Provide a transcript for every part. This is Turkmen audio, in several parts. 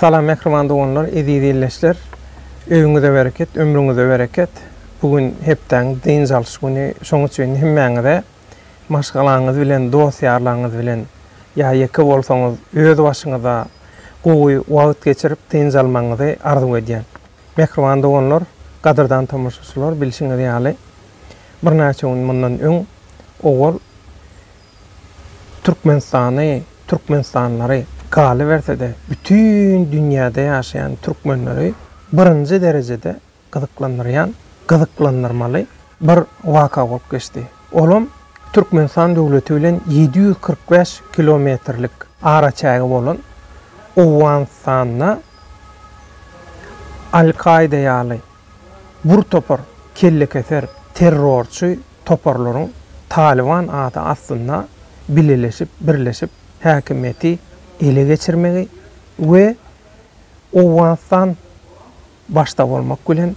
Salam mähriban doganlar, eziz illeşler. Öýüňize bereket, ömrüňize bereket. Bu gün hepdäň dynç alyş güni. Şonuň üçin hemmäňize maşgalaňyz bilen, dost-ýarlaryňyz bilen ýa ýeke bolsaňyz, öz başyňyza gowy wagt geçirip, dynç almagyňyzy arzuw edýän. Mähriban doganlar, gadyrdan tomaşaçylar, bilşiňiz ýaly, birnäçe gün mundan öň owal Türkmenistany, türkmenistanlylary, galyberse-de, bütin dünýäde ýaşaýan türkmenleri birinji derejede gyzyklandyrýan, gyzyklandyrmaly bir waka bolup geçdi. Olam Türkmenistan döwleti bilen ýedi ýüz kyrk bäş kilometrlik araçägi bolan Owganystanda Al-Kaýda ýaly bir topar kellekeser terrorçy toparlaryň Talyban ady astynda bileleşip, birleşip häkimiýeti ele geçirmegi we Owganystan başda bolmak bilen,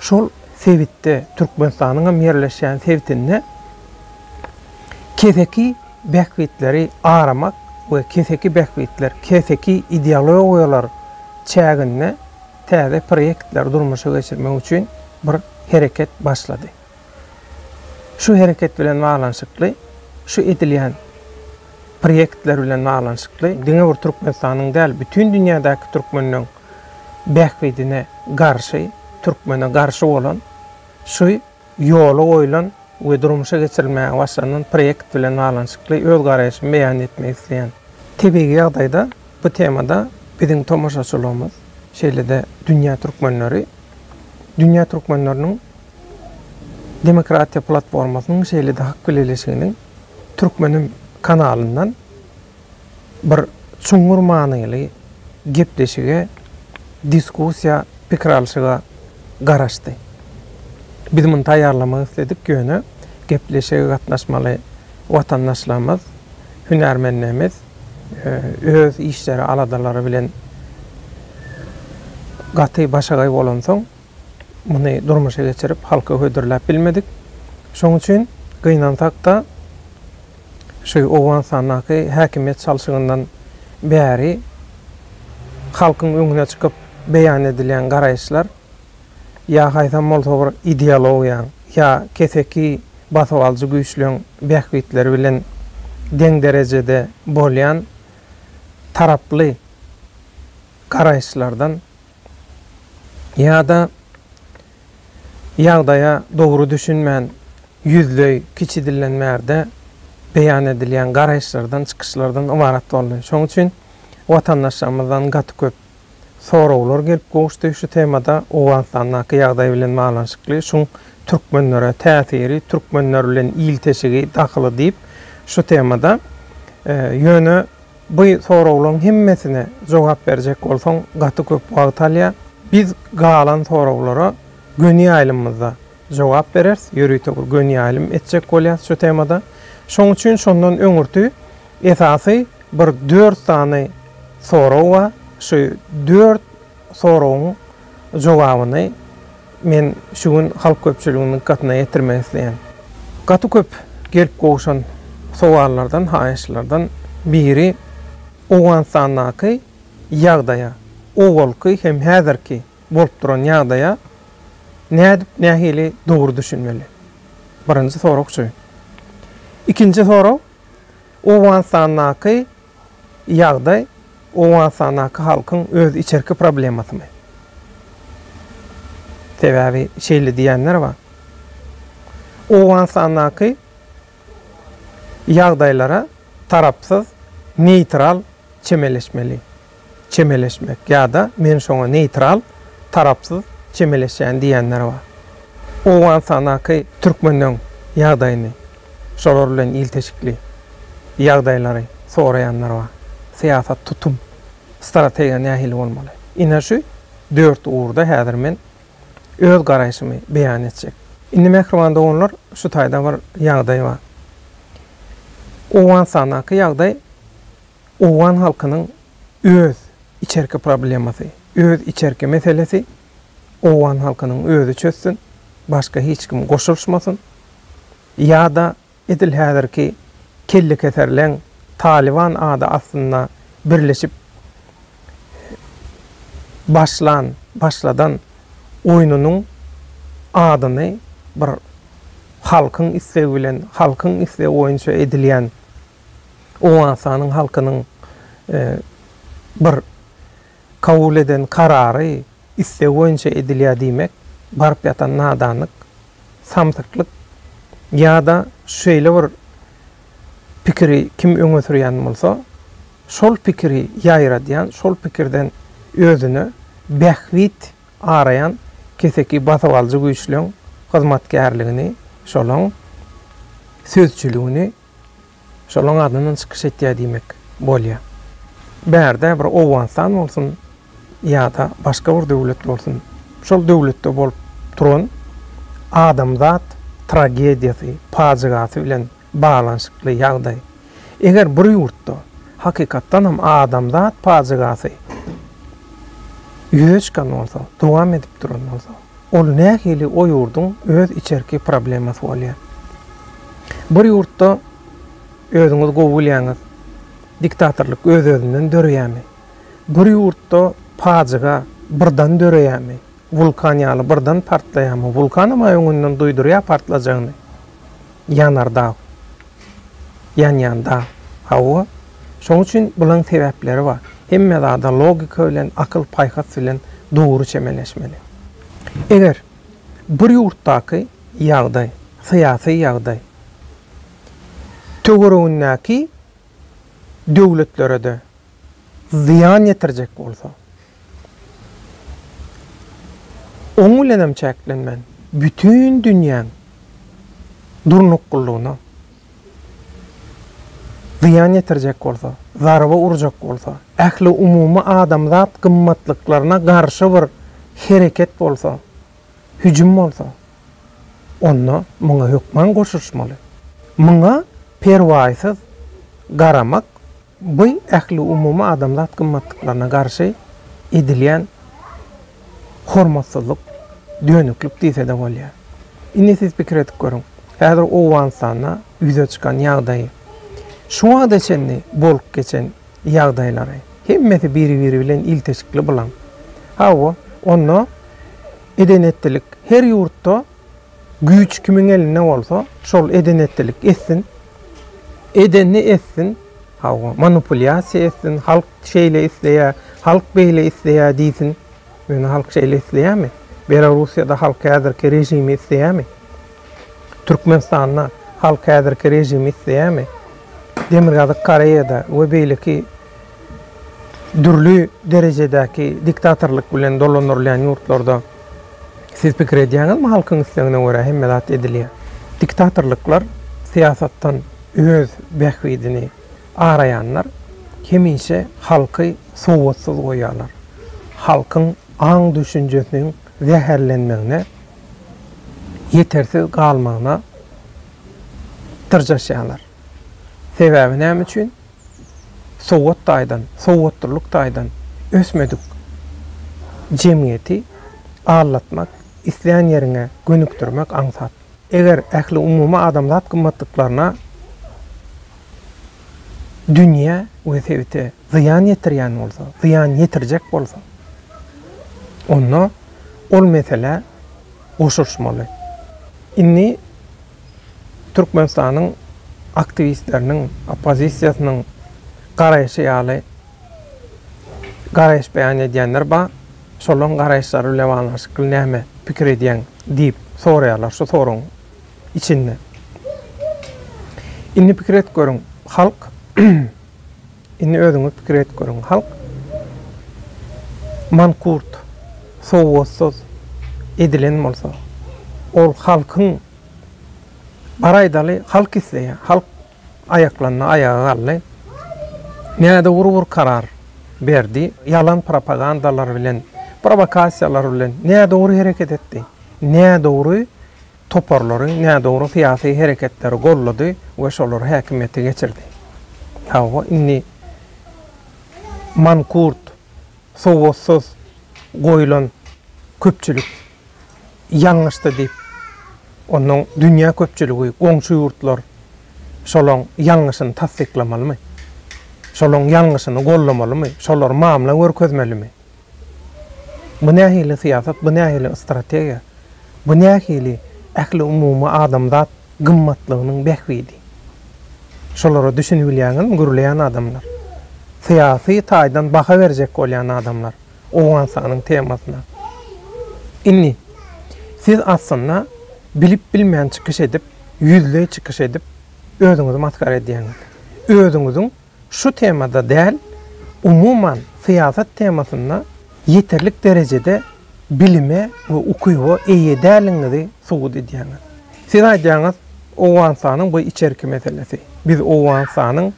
şol sebitde, Türkmenistanyň hem ýerleşýän sebitinde keseki bähbitleri aramak we keseki bähbitler, keseki ideologiýalar çäginde täze proýektleri durmuşa geçirmek üçin bir hereket başlady. Şu hereket bilen baglanyşykly, şu edilýän proýektler bilen baglanyşykly diňe bir Türkmenistanyň däl, bütin dünýädäki türkmenleň bähbidine garşy, türkmene garşy bolan şu ýola goýlan we durmuşa geçirilmäge başlanylan proýekt bilen baglanyşykly öz garaýşymy beýan etmek isleýän. Tebigy ýagdaýda bu temada biziň tomaşaçylygymyz, şeýle-de dünýä türkmenleri, dünýä türkmenleriniň demokratiýa platformasynyň şeýle-de hak bileleşiginiň Türkmenim kanalyndan, bir çuňňur manyly gepleşige, diskussiýa, pikir alşyga garaşdy. Biz muny taýýarlamak isledik, ýöne gepleşige gatnaşmaly watandaşlarymyz, hünärmenlerimiz öz işleri, aladalary bilen gaty başagaý bolansoň, Muny durmuşa geçirip, halka hödürläp bilmedik. Şonuň üçin gynansak-da, şu Owganystandaky häkimiýet çalşygyndan bäri halkyň öňüne çykyp beýan edilýän garaýyşlar ýa haýsam bolsa bir ideologiýaň, ýa keseki basyp alyjy güýçleň bähbitleri bilen deň derejede bolýan taraply garaýyşlardan ýa-da ýagdaýa dogry düşünmän ýüzleý kiçi dillenmärde beýan edilýän garaýyşlardan, çykyşlardan ybarat boldy. Şoň üçin watandaşlarymyzdan gaty köp soraglar gelip gowuşdy şu temada, Owganystandaky ýagdaý bilen baglanyşykly, şuň türkmenlere täsiri, türkmenler bilen ilteşigi, dahyly diýip şu temada. Ýöne. Bu soraglaň hemmesine jogap berjek bolsaň gaty köp wagt alýa. Biz galan soraglara göni ýaýlymymyzda jogap bereris, ýörite bir göni ýaýlym etjek bolýas şu temada. Şoň üçin şondan öňürti esasy bir dört sany sorag bar. Şu dört soragyň jogabyny men şu gün halk köpçüliginiň dykgatyna ýetirmek isleýän. Gaty köp gelip gowşan sowallardan, haýyşlardan biri Owganystandaky ýagdaýa, owalky hem häzirki bolup duran ýagdaýa nädip, nähili dogry düşünmeli? Birinji sorag şu. Ikinji sorag, Owganystandaky ýagdaý Owganystandaky halkyň öz içerki problemasymy? Sebäbi şeýle diýýänler bar. Owganystandaky ýagdaýlara tarapsyz, neýtral çemeleşmeli. çemeleşmek ýa-da men şoňa neýtral, tarapsyz, çemeleşýän diýýänler bar. Owganystandaky türkmenleň ýagdaýyny, şolar bilen ilteşikli ýagdaýlary soraýanlar bar. Syýasat, tutum, strategiýa nähili bolmaly? Ine şu dört ugurda häzir men öz garaýşymy beýan etjek. Indi mähriban doganlar, şu taýda bir ýagdaý bar. Owganystandaky ýagdaý, Owgan halkynyň öz içerki problemasy, öz içerki meselesi, owgan halkynyň özi çözsün, başga hiç kim goşulyşmasyn ýa-da edil häzirki kellekeserleň Talyban ady astynda birleşip başlan, başladan oýnunyň adyny bir halkyň islegi bilen, halkyň islegi boýunça edilýän, Owganystanyň halkynyň bir kabul eden karary, istegi boýunça edilýär diýmek baryp ýatan nadanlyk, samsyklyk ýa-da şeýle bir pikiri kim öňe sürýän bolsa, şol pikiri ýaýradýan, şol pikirden özüne bähbit araýan keseki basybalyjy güýçleň hyzmatkärligini, şolaň sözçüligini Şolaň adyndan çykyş etýär diýmek bolýar. Bärde bir Owganystan bolsun ýa-da başga bir döwlet bolsun, şol döwletde bolup duran adamzat tragediýasy, pajygasy bilen baglanyşykly ýagdaý. Eger bir ýurtda hakykatdan hem adamzat pajygasy ýüze çykan bolsa, dowam edip duran bolsa, Ol nähili o ýurduň öz içerki problemasy bolýar. Bir ýurtda özüňiz gowy bilýäňiz diktatorlyk öz özünden döreýämi? Bir ýurtda pajyga birdan döreýämi? Wulkan ýaly birdan partlaýamy? Wulkanam-a öňünden duýdurýar partlajagyny. Ýanardag. Ýanýan dag. Hawa, şoň üçin bulaň sebäpleri bar. Hemme zada logika bilen, akyl-paýhas bilen dogry çemeleşmeli. Eger bir ýurtdaky ýagdaý, syýasy ýagdaý töweregindäki döwletlerede zyýan ýetirjek bolsa, oň bilenem çäklenmän, bütin dünýäň durnuklylygyna zyýan ýetirjek bolsa, zarba urjak bolsa, ähliumumy adamzat gymmatlyklaryna garşy bir hereket bolsa, hüjüm bolsa, onda muňa hökman goşuşmaly. Muňa perwaýsyz garamak Bu ähliumumy adamzat gymmatlyklaryna garşy edilýän hormatsyzlyk, dönüklik diýse-de bolýar. Indi siz pikir edip görüň, häzir Owganystanda ýüze çykan ýagdaýy, şu wagta çenli bolup geçen ýagdaýlary, hemmesi biri-biri bilen ilteşikli bulaň. Hawa, onda eden-etdilik her ýurtda Güýç kimiň elinde bolsa, şol eden-etdilik etsin. Edenini etsin. Hawa, manipulýasiýa etsin. Halk şeýle isleýär, halk beýle isleýär diýsin. Ýöne halk şeýle isleýärmi? Belorussiýada halk häzirki režimi isleýärmi? Türkmenistanda halk häzirki režimi isleýärmi? Demirgazyk Koreýada we beýleki Dürli derejedäki diktatorlyk bilen dolandyrylýan ýurtlarda siz pikir edýäňizmi, halkyň islegine görä hemme zat edilýär. Diktatorlyklar syýasatdan öz bähbidini araýanlar hemişe halky sowatsyz goýýarlar. Halkyň aň-düşünjesiniň zäherlenmegine, ýetersiz galmagyna dyrjaşýarlar. Sebäbi näme üçin? sowat taýdan, sowatlylyk taýdan ösmedik jemgyýeti aldatmak, isleýän ýeriňe gönükdirmek aňsat. Eger ähliumumy adamzat gymmatlyklaryna dünýä we sebite zyýan ýetirýän bolsa, zyýan ýetirjek bolsa, onda ol meselä goşulyşmaly. Indi Türkmenistanyň aktiwistleriniň, oppozisiýasynyň garaýşy ýaly garaýyş beýan edýänler bar. Şolaryň garaýyşlary bilen baglanyşykly näme pikir edýäň? diýip soraýarlar şu soragyň içinde. Indi pikir edip görüň, halk Indi özüňiz pikir edip görüň, halk mankurt, sowatsyz edilen bolsa, ol halkyň, bar aýdaly, halk isleýär, halk aýaklandy, aýaga galdy, nädogry bir karar berdi, ýalan propagandalar bilen, prowokasiýalar bilen nädogry hereket etdi, nädogry toparlary, nädogry syýasy hereketleri goldady we şolar häkimiýete geçirdi. Hawa, indi mankurt, sowatsyz goýlan köpçülik ýalňyşdy diýip, onnoň dünýä köpçüligi, goňşy ýurtlar şolaň ýalňyşyny tassyklamalymy? Şolaň ýalňyşyny goldamalymy? Şolar mamla görkezmelimi? Bu nähili syýasat, bu nähili strategiýa, bu nähili ähliumumy adamzat gymmatlygynyň bähbidi? Şolara düşünibilýäňizmi, gürleýän adamlar? Syýasy taýdan baha berjek bolýan adamlar Owganystanyň temasyna. Indi, siz aslynda bilip-bilmän çykyş edip, ýüzleý çykyş edip, özüňizi masgara edýäňiz. Özüňiziň Şu temada däl, umuman syýasat temasynda ýeterlik derejede bilime we ukyba eýe däliňizi subut edýäňiz. Siz aýdýaňyz, Owganystanyň bu içerki meselesi. Biz Owganystanyň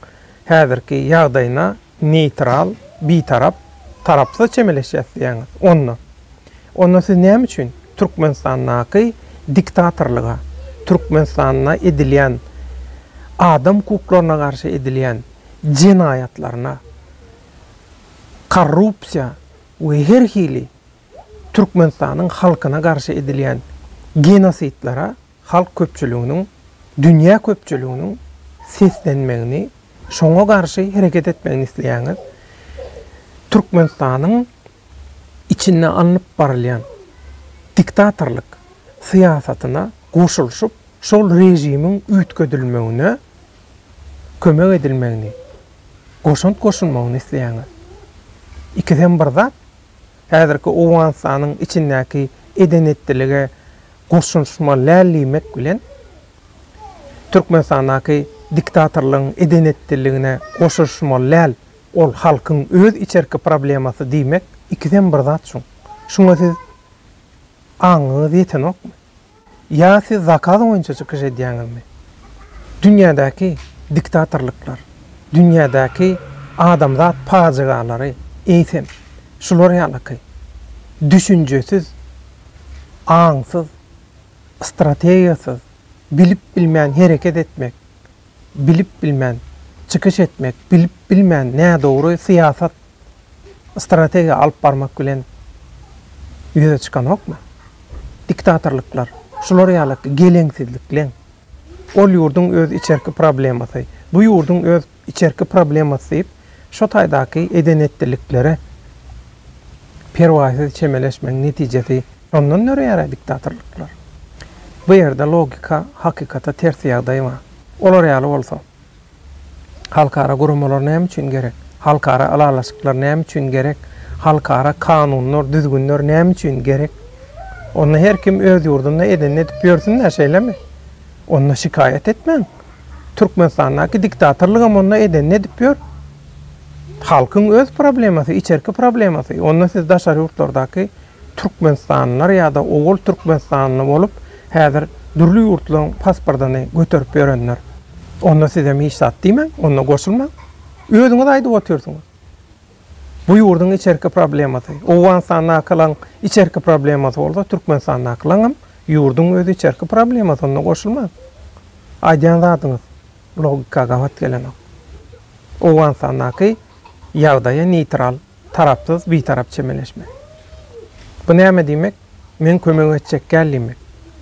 häzirki ýagdaýyna neýtral, bitarap, tarapsyz çemeleşýäs diýýäňiz. Onda. Onda siz näme üçin Türkmenistandaky diktatorlyga, Türkmenistanda edilýän adam hukuklaryna garşy edilýän jenaýatlaryna, korrupsiýa we her hili Türkmenistanyň halkyna garşy edilýän genosidlere, halk köpçüliginiň, dünýä köpçüliginiň seslenmegini, şoňa garşy hereket etmegini isleýäňiz, Türkmenistanyň içinde alnyp barylýan diktatorlyk syýasatyna goşulyşyp, şol režimiň üýtgedilmegine kömek edilmegini, goşant goşulmagyny isleýäňiz. Ikisem bir zat. Häzirki Owganystanyň içindäki eden-etdilige goşulyşmaly däl diýmek bilen, Türkmenistandaky diktatorlygyň eden-etdiligine goşulyşmaly däl, ol halkyň öz içerki problemasy diýmek ikisem bir zat şuň. Şuňa siz aňyňyz ýetenokmy? Ýa siz zakaz boýunça çykyş edýäňizmi? Dünýädäki diktatorlyklar, dünýädäki adamzat pajygalary eýsem, şular ýalyky düşünjesiz, aňsyz, strategiýasyz, bilip-bilmän hereket etmek, bilip bilmän çykyş etmek, bilip bilmän nädogry syýasat, strategiýa alyp barmak bilen ýüze çykanokmy? Diktatorlyklar şular ýaly geleňsizlikleň. Ol ýurduň öz içerki problemasy, bu ýurduň öz içerki problemasy diýip, şo taýdaky eden-etdiliklere perwaýsyz çemeleşmegiň netijesi. Ondan döreýär-ä diktatorlyklar. Bu ýerde logika, hakykata ters ýagdaý bar. Olar ýaly bolsa, halkara guramalar näme üçin gerek? Halkara ylalaşyklar näme üçin gerek? Halkara kanunlar, düzgünler näme üçin gerek? Onda her kim öz ýurdunda edenini edip ýörsün-dä, şeýlemi? Onda şikaýat etmäň. Türkmenistandaky diktatorlygam onda edenini edip ýör. Halkyň öz problemasy, içerki problemasy. Onda siz daşary ýurtlardaky Türkmenistanlylar ýa-da owal Türkmenistanly bolup, häzir dürli ýurtlaryň pasportyny göterip ýörenler. Onda sizem hiç zat diýmäň, onda goşulmaň. Özüňiz aýdyp otyrsyňyz. Bu ýurduň içerki problemasy. Owganystandakylaň içerki problemasy bolsa, Türkmenistandakylaňam ýurduň öz içerki problemasy, onda goşulmaň. Aýdýan zadyňyz logika gabat gelenok. Owganystandaky ýagdaýa neýtral. Tarapsyz, bitarap çemeleşme. Bu näme diýmek? Men kömek etjek däl diýmek.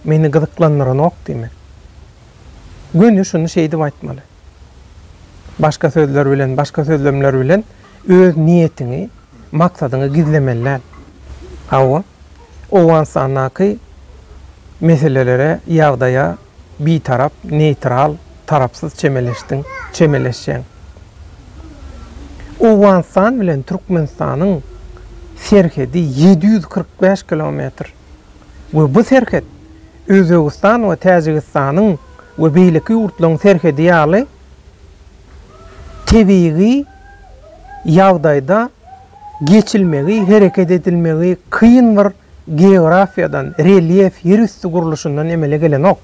Meni gyzyklandyranok diýmek. Göni şuny şeýdip aýtmaly. Başga sözler bilen, başga sözlemler bilen öz niýetiňi, maksadyňy gizlemeli däl. Hawa, Owganystandaky meselelere, ýagdaýa, Bitarap, neýtral, tarapsyz çemeleşdiň, çemeleşýäň. Owganystan bilen Türkmenistanyň serhedi ýedi ýüz kyrk bäş kilometr we bu serhet Özbegistan we Täjigistanyň we beýleki ýurtlaryň serhedi ýaly tebigy ýagdaýda geçilmegi, hereket edilmegi kyn bir Geografiýadan, relýef, ýer üsti gurluşyndan emele gelenok.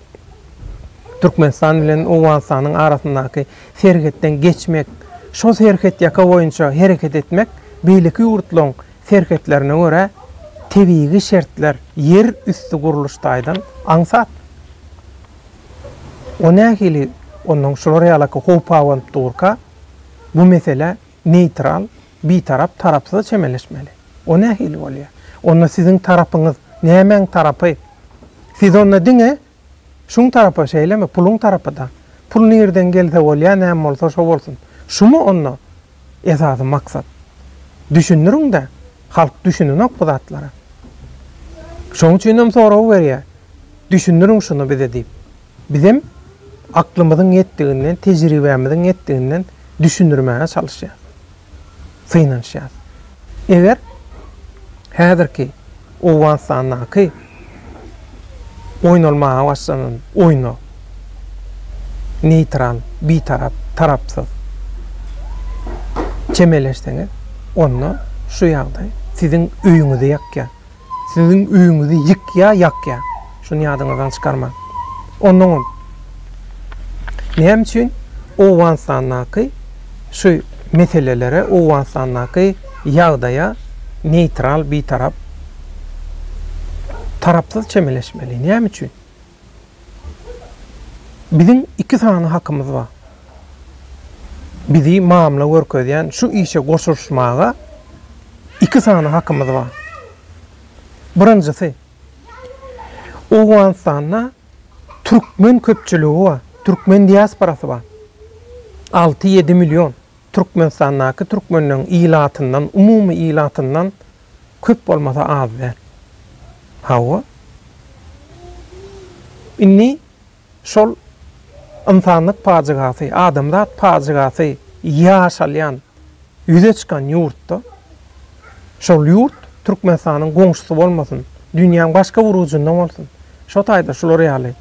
Türkmenistan bilen Owganystanyň arasyndaky serhetden geçmek, şol serhetýaka boýunça hereket etmek beýleki ýurtlaryň serhetlerine görä tebigy şertler, ýer üsti gurluş taýdan aňsat. O nähili onnoň şular ýalaky howp abanyp durka bu mesele neýtral, bitarap, tarapsyza çemeleşmeli. O nähili bolýar? Onda siziň tarapyňyz nämäň tarapy? Siz onda diňe şuň tarapy, şeýlemi? Puluň tarapy-da. Pul nirden gelse bolýar, näme bolsa şo bolsun. Şumy onda esasy maksat? Düşündiriň-de, halk düşünenok bu zatlara. Şoň üçinem soragy berýär, düşündiriň şuny bize diýip. Bizem aklymyzyň ýetdiginden, tejribämiziň ýetdiginden düşündirmäge çalyşýarys, synanyşýarys. Eger häzirki Owganystandaky oýnalmaga başlanan oýna neýtral, bitarap, tarapsyz çemeleşseňiz, onda şu ýagdaý siziň öýüňizi ýakýar. Siziň öýüňizi ýykýa, ýakýa. Şuny ýadyňyzdan çykarmaň. Onnoňam, näme üçin Owganystandaky şu meselelere, Owganystandaky ýagdaýa neýtral, bitarap, tarapsyz çemeleşmeli? Näme üçin? Biziň iki sany hakymyz bar. Bizi mamla görkezýän şu işe goşulyşmaga iki sany hakymyz bar. Birinjisi, Owganystanda türkmen köpçüligi bar, türkmen diasporasy bar. Alty-ýedi million Türkmenistandaky türkmenleň ilatyndan, umumy ilatyndan, köp bolmasa az däl. Hawa. Indi şol ynsanlyk pajygasy, adamzat pajygasy ýaşalýan, ýüze çykan ýurtda, şol ýurt Türkmenistanyň goňşusy bolmasyn, dünýäň başga bir ujunda bolsun, şo taýda şular ýaly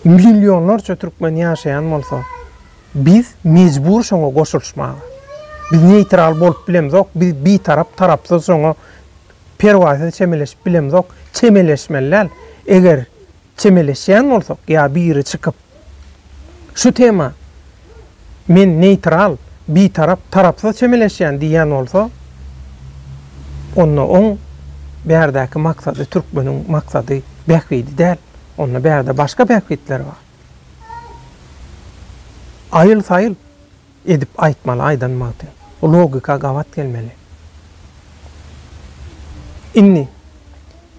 Millionlarça türkmen ýaşaýan bolsa, biz mejbur şoňa goşulyşmaga. Biz neýtral bolup bilemzok, biz bitarap, tarapsyz şoňa perwaýsyz çemeleşip bilemzok, çemeleşmeli däl. Eger çemeleşýän bolsak ýa biri çykyp şu tema Men neýtral, bitarap, tarapsyz çemeleşýän diýýän bolsa, onda oň bärdäki maksady türkmeniň maksady, bähbidi däl. Onda bärde başga bähbitler bar. Aýyl-saýyl edip aýtmaly aýdan magty. Logika gabat gelmeli. Indi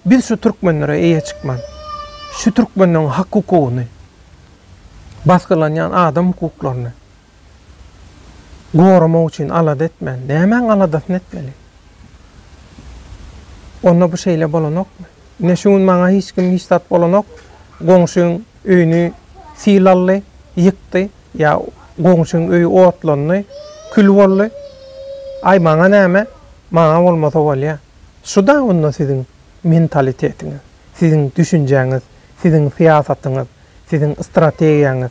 biz şu türkmenlere eýe çykman, şu türkmenleň hak-hukugyny, basgylanýan adam hukuklaryny goramak üçin alada etmän, nämäň aladasyny etmeli? Onda bu şeýle bolanokmy? Ine, şu gün maňa hiç kim hiç zat bolanok, goňşyň öýüni sil aldy, ýykdy, ýa goňşyň öýi otlandy, kül boldy. Aý, maňa näme? Maňa bolmasa bolýar. Şu-da onda siziň mentalitetiňiz, siziň düşünjäňiz, siziň syýasatyňyz. Siziň strategiýaňyz.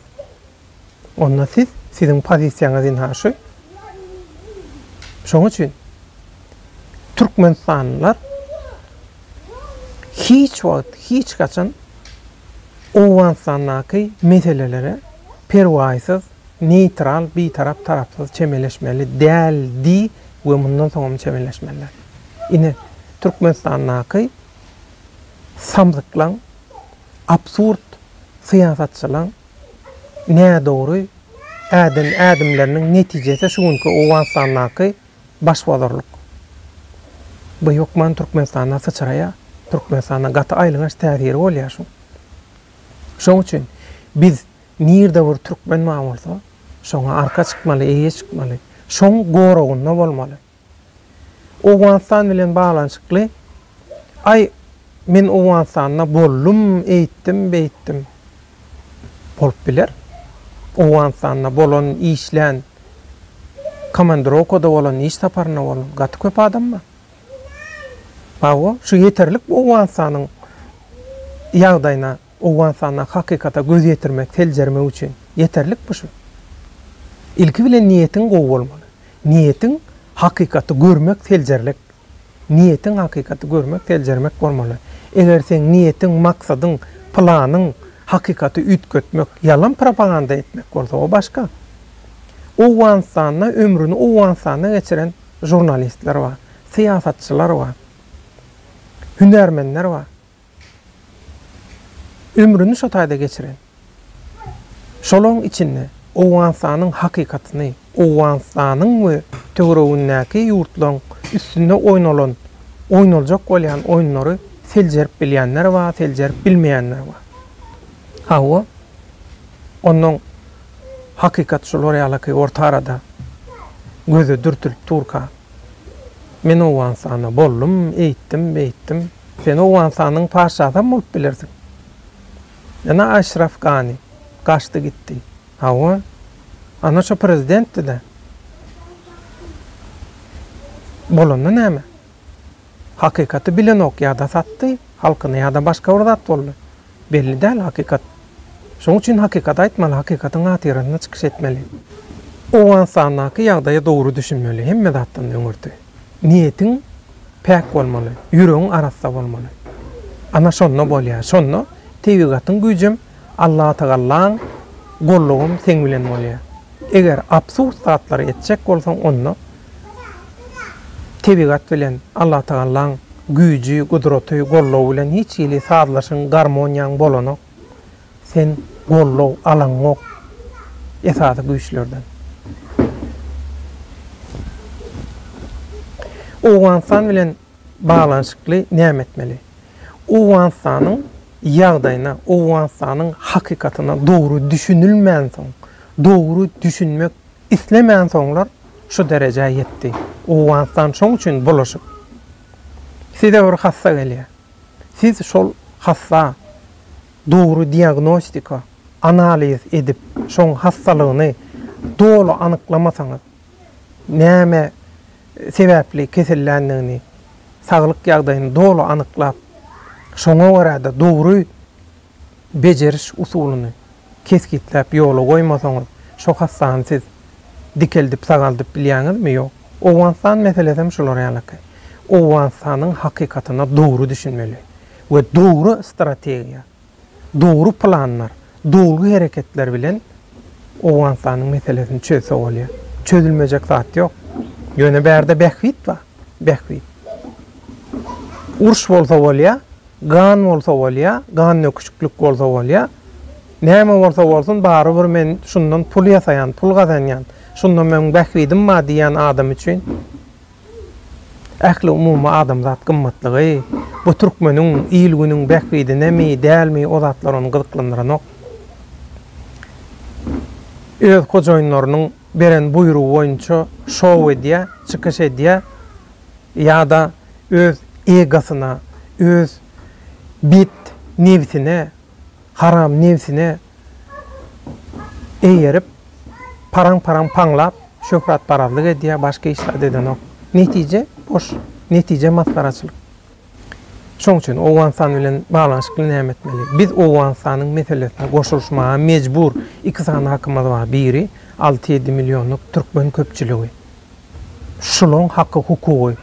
Onda siz, siziň pozisiýaňyz ynha şu. Şoň üçin türkmenistanlylar hiç wagt, hiç haçan Owganystandaky meselelere perwaýsyz, neýtral, bitarap, tarapsyz çemeleşmeli däldi we mundan soňam çemeleşmezler. Ine, Türkmenistandaky samsyklaň absurd syýasatçylaň nädogry äden ädimleriniň netijesi şu günki Owganystandaky başbozarlyk. Bu hökman Türkmenistanda syçraýar, Türkmenistanda gaty aýylganç täsiri bolýar şuň. Şoň üçin biz nirde bir türkmen bar bolsa, şoňa arka çykmaly, eýe çykmaly, şoň goragynda bolmaly. Owganystan bilen baglanyşykly, Aý, men Owganystanda boldum, eýtdim, beýtdim. Bolup biler. Owganystanda bolan, işlän, komandirowkada bolan, iş saparynda bolan gaty köp adam bar. Hawa, şu ýeterlik Owganystanyň ýagdaýyna. Owganystandaky hakykata göz ýetirmek, seljermek üçin ýeterlikmi şu? Ilki bilen niýetiň gowy bolmaly. Niýetiň hakykaty görmek, seljerlek. Niýetiň hakykaty görmek, seljermek bolmaly. Eger seň niýetiň, maksadyň, planyň hakykaty üýtgetmek, ýalan propaganda etmek bolsa, o başga. Owganystanda ömrüni Owganystanda geçiren žurnalistler bar, syýasatçylar bar, hünärmenler bar. Ömrüni şo taýda geçiren. Şolaň içinde Owganystanyň hakykatyny, Owganystanyň we töweregindäki ýurtlaryň üstünde oýnalan, oýnaljak bolýan oýunlary seljerip bilýänler bar, seljerip bilmeýänler bar. Hawa, onnoň hakykat şular ýalyky orta arada göze dürtülip durka, men Owganystanda boldum, eýtdim, beýtdim. Sen Owganystanyň patyşasam bolup bilersiň. Ene Aşraf Gani gaçdy gitdi. Hawa. Ana şo prezidentdi-dä. Bolanda näme? Hakykaty bilenok ýa-da satdy halkyny ýa-da başga bir zat boldy. Belli däl hakykat. Şoň üçin hakykaty aýtmaly, hakykatyň hatyrasyna çykyş etmeli. Owganystandaky ýagdaýa dogry düşünmeli, hemme zatdan öňürti. niýetiň päk bolmaly, ýüregiň arassa bolmaly. Ana şonda bolýar. Şonda tebigatyň güýjem, Allatagalaň gollugym seň bilen bolýar. Eger absurd zatlary etjek bolsaň, onda tebigat bilen Allatagalaň güýji, gudraty, gollugy bilen hiç hili sazlaşygyň, garmoniýaň bolanok. Sen goldaw alaňok esasy güýçlerden. Owganystan bilen baglanyşykly näme etmeli? Owganystanyň ýagdaýyna, Owganystanyň hakykatyna dogry düşünilmänsoň, dogry düşünmek islemänsoňlar şu derejä ýetdi. Owganystan şoň üçin bulaşyk. Size bir hassa gelýär. Siz şol hassa Dogry diagnostika, analiz edip, şoň hassalygyny doly anyklamasaňyz, näme sebäpli keselländigini, saglyk ýagdaýyny doly anyklap, şoňa görä-de dogry bejeriş usulyny kesgitläp ýola goýmasaňyz, şo hassany siz dikeldip, sagaldyp bilýäňizmi? Ýok. Owganystan meselesem şular ýalyky. Owganystanyň hakykatyna dogry düşünmeli. we dogry strategiýa, dogry planlar, dolgy hereketler bilen Owganystanyň meselesini çözse bolýar. Çözülmejek zat ýok. Ýöne bärde bähbit bar, bähbit. Uruş bolsa bolýar, gan bolsa bolýar, gan döküşiklik bolsa bolýar. Näme bolsa bolsun, barybir men şundan pul ýasaýan, pul gazanýan, şunda meniň bähbidim bar diýýän adam üçin Ähliumumy adamzat gymmatlygy, bu türkmeniň, il-günüň bähbidinemi, dälmi, o zatlar ony gyzyklandyranok. Öz hojaýynlarynyň beren buýrugy boýunça şou edýär, çykyş edýär ýa-da öz egosyna, öz bet nebsine, haram nebsine, eýerip, paraň-paraň paňlap, şöhratparazlyk edýär, başga iş zat edenok. Netije, boş, netije masgaraçylyk. Şoň üçin Owganystan bilen baglanyşykly näme etmeli? Biz Owganystanyň meselesine goşulyşmaga mejbur. Iki sany hakymyz bar, biri alty-ýedi millionlyk türkmen köpçüligi. Şulaň haky-hukugy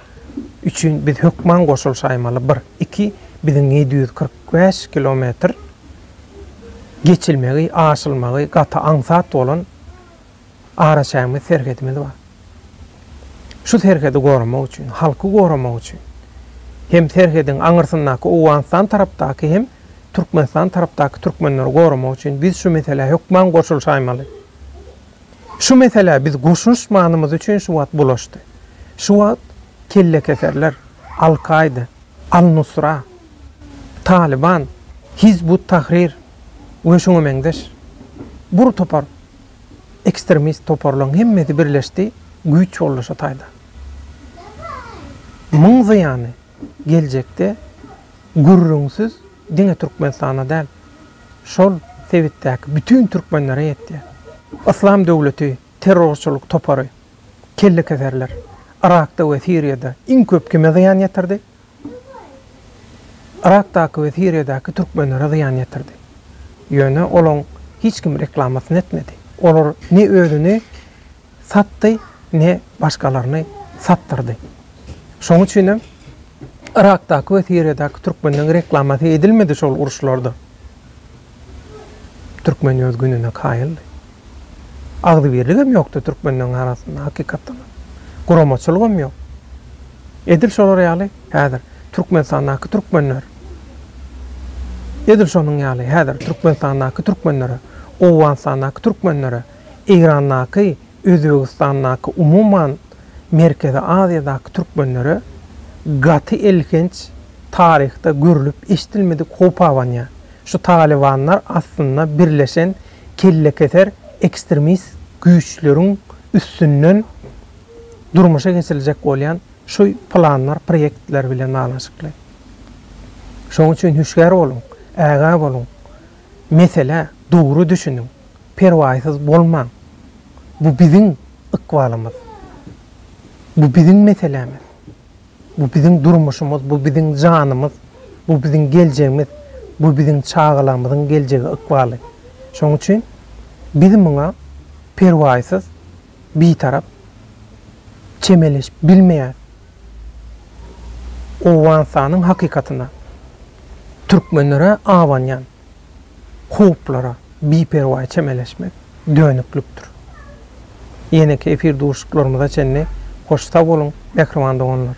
üçin biz hökman goşulyşaýmaly, bir. Iki, biziň ýedi ýüz kyrk. Bäş kilometr geçilmegi, aşylmagy gaty aňsat bolan araçägimiz, serhedimiz bar. Şu serhedi goramak üçin, halky goramak üçin hem serhediň aňyrsyndaky Owganystan tarapdaky hem Türkmenistan tarapdaky türkmenleri goramak üçin biz şu meselä hökman goşulyşaýmaly. Şu meselä biz goşulyşmanymyz üçin şu wagt bulaşdy. Şu wagt kellekeserler, Al-Kaýda, Al-Nusra, Talyban, Hizb ut-Tahrir we şuňa meňzeş bur topar ekstremist toparlaryň hemmesi birleşdi güýç bollaşa taýda. Muň zyýany geljekde gürrüňsiz diňe Türkmenistana däl, şol sebitdäki bütin türkmenlere ýetýär. Yslam döwleti Terrorçylyk topary kellekeserler Yrakda we Siriýada iň köp kime zyýan ýetirdi? Yrakdaky we Siriýadaky türkmenlere zyýan ýetirdi. Ýöne olaň hiç kim reklamasyny etmedi. Olar ne özüni satdy, ne başgalaryny satdyrdy. Şoň üçinem Yrakdaky we Siriýadaky türkmenleň reklamasy edilmedi şol uruşlarda. Türkmen ýöz gününe kaýyldy. Agzybirligem ýokdy türkmenleriň arasynda hakykatdanam. Guramaçylygam ýok. Edil şolar ýaly häzir Türkmenistandaky türkmenler edil şonuň ýaly häzir Türkmenistandaky türkmenlere, Owganystandaky türkmenlere, Eýrandaky Özbegistandaky umuman Merkezi Aziýadaky türkmenlere gaty elhenç taryhda görlüp eşdilmedik howp abanýar. Şu talybanlar aslynda birleşen kellekeser ekstremist güýçleriň üstünden durmuşa geçiriljek bolýan şu planlar proýektler bilen baglanyşykly. Şoň üçin hüşgär boluň, ägä boluň. Meselä dogry düşüniň, perwaýsyz bolmaň. Bu biziň ykbalymyz. Bu biziň meselämiz. Bu biziň durmuşymyz, bu biziň janymyz, bu biziň geljegimiz, bu biziň çagalarymyzyň geljegi, ykbaly. Şonuň üçin biz muňa perwaýsyz. bitarap, çemeleşip bilmeýän Owganystanyň hakykatyna, türkmenlere abanýan howplara biperwaý çemeleşmek dönüklikdir. Ýeneki efir duşuşyklarymyza çenli hoş sag boluň, mähriban doganlar!